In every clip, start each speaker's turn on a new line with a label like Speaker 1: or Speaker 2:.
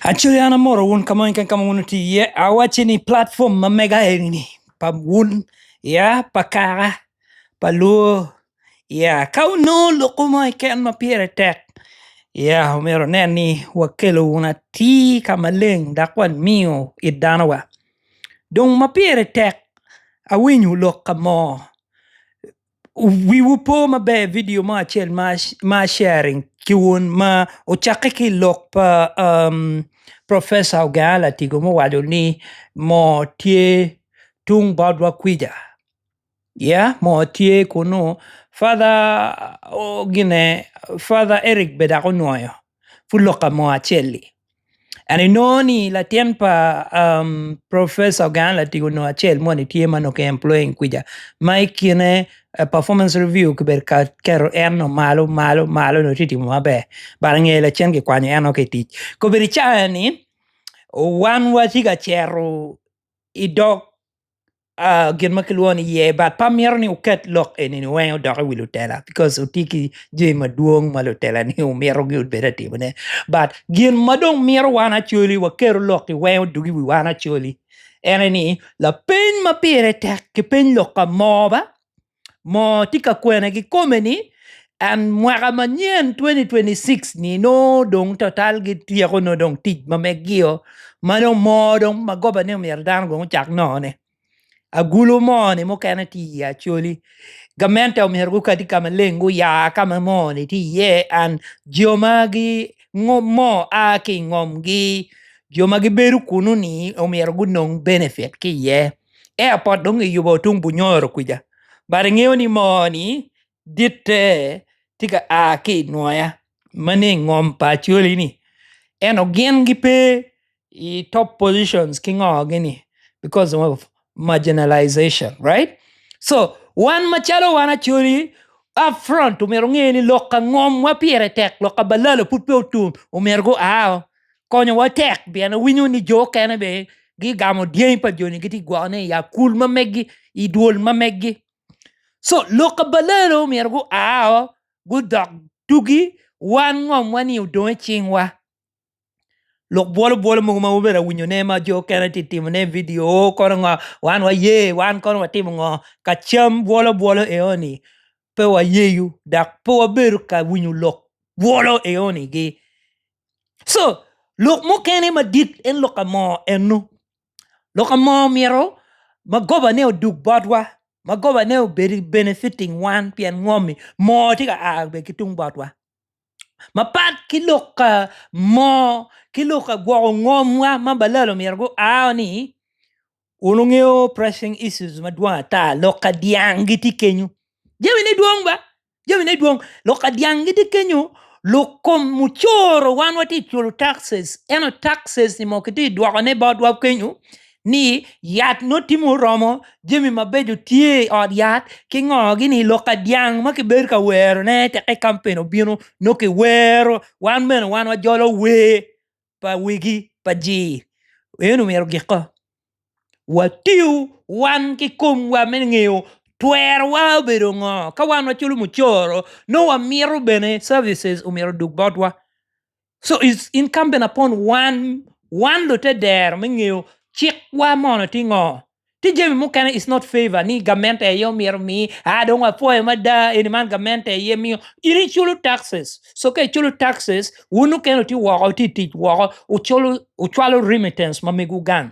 Speaker 1: Actually an amoro wun ka moni keken ka ma wun wutye iye awacci ni platform ma mega eni pa wun ya pa kaka pa lwor ya ka wunongo lokke mo keken ma pire tek ya myero wunen ni wakelo wun atir ka maleng dok wamiyo it dano wa dong ma pire tek awinyo lok ka mo Wiwu po maber vidio mo acel ma Mar Sharing ki Wun ma ocakke ki i lok pa Professor Oganga Latigo ma owaco ni moo tye tung botwa kwica yeah moo tye kunu Father Eric bene dok onwoyo. pud lok ka mo acel-li and inongo ni latin pa professor gang latingo nongo acel moni tye ma onongo ki employing kwija ma i kine performance review kibedo ka keto en nongo malo malo malo dong tye ka timo maber but ange lacen kikwanyo en woko ki i tic kobedo i cawa-ni wan watye ka cito idog gin ma kilwongo ni yer but pe amito ni wuket lok eni weng odok iwi lutela bikos wutye ki jami madwong ma lutelani wumito gubed ka timone but gin ma dong mito wan acwali waketo lok weng odog iwi wan acwali en aye ni lapeny ma pire tek kipeny lok ka mo ba moo tye ka kwene kikome ni and mwaka manyen 2026 ni nongo dong total gityeko nongo dong tic ma megio ma dong moo dong ma goba ni omyero dano gong ocak nongo ne agulu moo ni mukene tye i ye acholi gamente omyero gukati ka maleng guya ka ma moo ni tye iye and jo ma gi ngo moo a ki ingom gi jo ma gibedo kunu ni omyero gunong benefit ki iye Airport dong kiyubo tung Bunyoro kwica but ingeyo ni moo ni ditte tye ka a ki i nwoya ma ni i ngom pa Acholi ni ento gin gipe i top position ki ngo gini because of marginalisation right so wan macalo wan Acholi up front omyero gunge ni lok pa ngomwa pire tek lok pa balalo pud pe otum omyero gua o. konyowa tek pien awinyo ni jo okene be gigamo dyangi pa joni giti gwokone i akul ma megi i dwol ma megi so lok ka balelo myero gua o gudok dugi wan ngomwa ni odong i cingwa lok bwolo bwolo mogo ma wubedo awinyone ma jo okene ti timone vidio o kono ngo wan waye wan kono watimo ngo ka cam bwolo bwolo eoni pe wayeyo dok pe wabedo ka winyo lok bwolo eoni gi co lok mukene madit en lok amoo eno lok amoo myero magoba ne odug bot wa magoba ne obed i benefiting wan pien ngo omi moo tye ka a bene ki tung botwa mapat ki lok amoo ki lok agwoko ngom wa ma balalo myero gu a ni wun wungeyo pressing issues madwong ata lok adyang gitye kenyo jamine dwong ba jamine dwong lok ka dyang gitye kenyo lok kom mucoro wan watye ka culo taxes ento taxes ni mo kitye ka dwokone botwa kenyo ni yat nongo tye ma oromo jami mabeco tye i ot yat ki ngo gi ni lok ka dyang ma kibedo ka werone tekka i kampen obino nongo kiwero wan bene wan wajolo wer. pa wegi pa jir eno myero giko watiyo wan ki komwa me ngeyo twerowa obedo ngo ka wan waculo mucoro nongo wamito bene services omyero odug botwa so is incumbent upon wan, wan lute dero me ngeyo cik wa mono tye ngo Tye jami mukene is not favor ni gamente aye omyero mi a dong apwoyo mada eni man gamente aye miyo in iculo taxes so ka iculo taxes wun okene ti woko ti tic woko uculo ucwalo remittance ma mego gang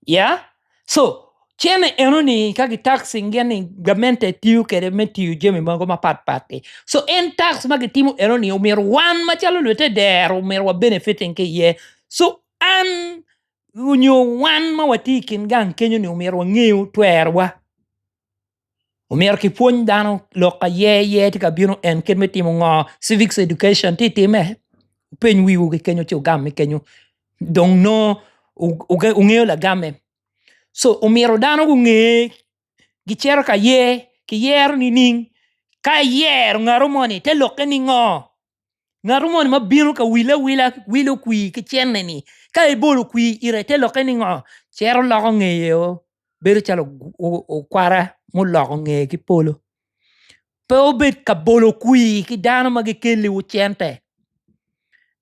Speaker 1: ya so cene eno ni ka gi taxing gin ni gamente tiyo kwede me tiyo jami mogo mapat pat ti so en tax ma gitimo eno ni omyero wan macalo lutedero omyero wa benefiting ki iye so an onyo wan ma watye i kin gang kenyo-ni omyero wangeyo twerwa omyero ki pwony dano lok aye aye tye ka bino en kit me timo ngo civic education tye time wupeny wiwu ki kenyo ci wugamme kenyo dong nongo wungeyo lagamme so omyero dano gunge gicito ka ye kiyero nining? Ka iyero ngatu moni te lokke ningo? Ngatu moni ma bino ka wille awila wilo kwir ki cente ni ka ibolo kwir ite te lokke ningo? Cito loko ngeye o bedo calo okwara muloko ngeye ki polo. Pe obed ka bolo kwir ki dano ma gikelliwu cente.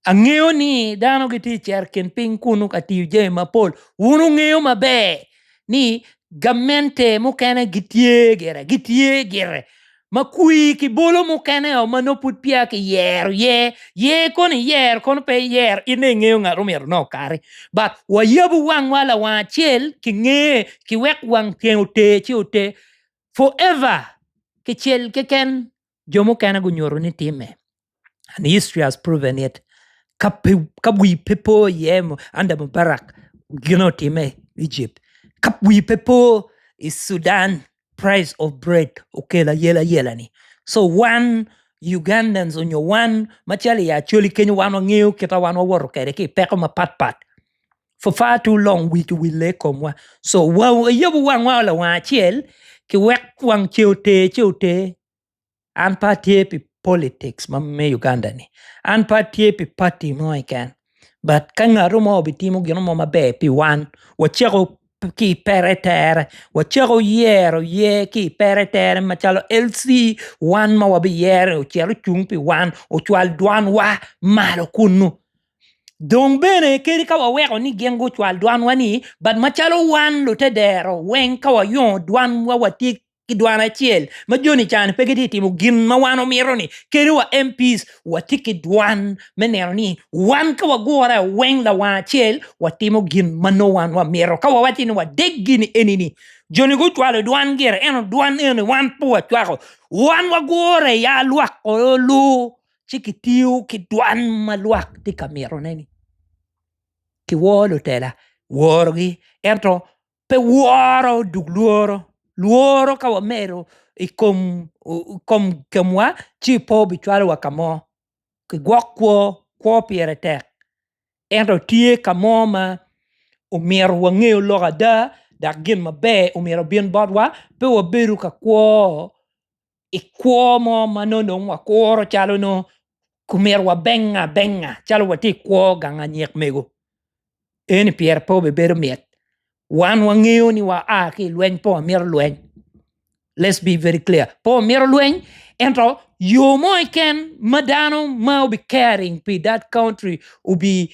Speaker 1: Angeyo ni dano gitye i cerkin piny kunu ka tiyo jami mapol. Wun wungeyo maber ni gamente mukene gitye gire, gitye gire ma kwir ki bolo mukene o ma nongo pud peya kiyero ye. Ye kono iyer, kono pe iyer, in aye ingeyo ngat ma omyero nongo okari. But wayabu wangwa lawang acel ki ngeye ki wek wang tyeng oter ci oter. Forever kicel keken jo mukene gunyuto ni timme and history has proven it ka pe ka wi pe po iye under Mubarak gin otime i Egypt ka wi pe po i Sudan price of bread okelo ayela yela ni so wan Ugandans nyo wan macalo i Acholi kenyo wan wangeyo kita wan wawoto kwede ki peko mapat pat. Purpur to long we to we leg komwa so wayabo wangwa lawang acel ki wek wang ce oter ce oter an pe atye pi politics ma me Uganda ni an pe atye pi party mo keken but ka ngato mo obitimo gin mo maber pi wan wacako ki i pere tere wacako yero yer ki i pere tere macalo LC wan ma wabiyero ni ocit ocung pi wan ocwal dwan wa malo kunu. Dong bene kadi ka waweko ni gin gucwal dwanwa ni but macalo wan lute dero weng ka wayongo dwanwa watye ki dwan acel ma joni ca ni pe gitye ka timo gin ma wan wamito ni kadi wa MP's watye ki dwan me neno ni wan ka wagure weng lawang acel watimo gin ma nongo wan wamito ka wawaco ni wadeg gini eni ni joni gucwalo dwan gire ento dwan eno ni wan pe wacwako wan wagure ya lwak olu ci kitiyo ki dwan ma lwak tye ka mitone-ni, kiworo lutela, worogi ento pe woro dul lworo, lworo ka wamedo i kom kemwa ci pe obicwalowa ka mo, kigwok kwo, kwo pire tek ento tye ka mo ma omyero wange lok ada dok gin maber omyero obin botwa pe wabedo ka kwo i kwo mo ma nongo dong wakuro calo nongo omyero wabenge abenga calo watye i kwo gang anyik mego eni pire pe obibedo mit wan wangeyo ni wa a ki i lweny pe wamito lweny let's be very clear pe wamito lweny ento yo mo keken ma dano ma obi caring pi that country obi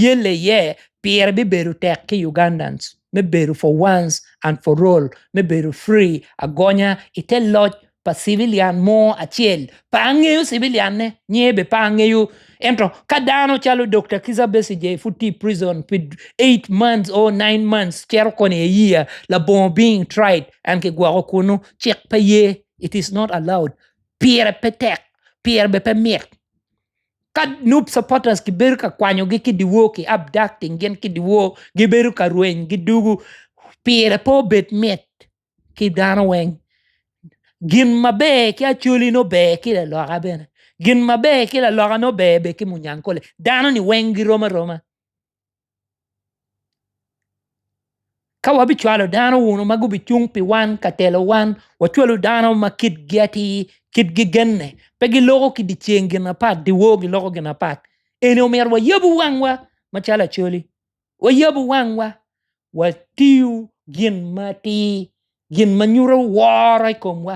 Speaker 1: yelle iye pire bibedo tek ki Ugandans. me bedo for once and for all me bedo free agonya i te loc pa civilian mo acel pe angeyo civilian ne nyinge bene pe angeyo ento ka dano calo Dokta Kiza Besigye pud tye i prison pi eight months or nine months cito koni i a year labongo being tried and ki gwoko kunu cik pe ye it is not allowed pire pe tek pire bene pe mit Ka Noob supporters gibedo ka kwanyogi ki dyewor ki abducting gin ki dyewor gibedo ka rweny gidwogo pire pe obed mit ki dano weng gin maber ki Acholi nongo ber ki laloka bene gin maber ki laloka nongo ber bene ki munyankole dano-ni weng girom aroma. Ka wabicwalo dano wunu ma gubicung pi wan ka telo wan, wacwalu dano ma kitgi atir, kitgi genne, pe giloko ki dyeceng gin apat, dyewor giloko gin apat. Eni omyero wayabu wangwa macalo Acholi, wayabu wangwa, watiyu gin matir, gin ma nyuto woro i komwa.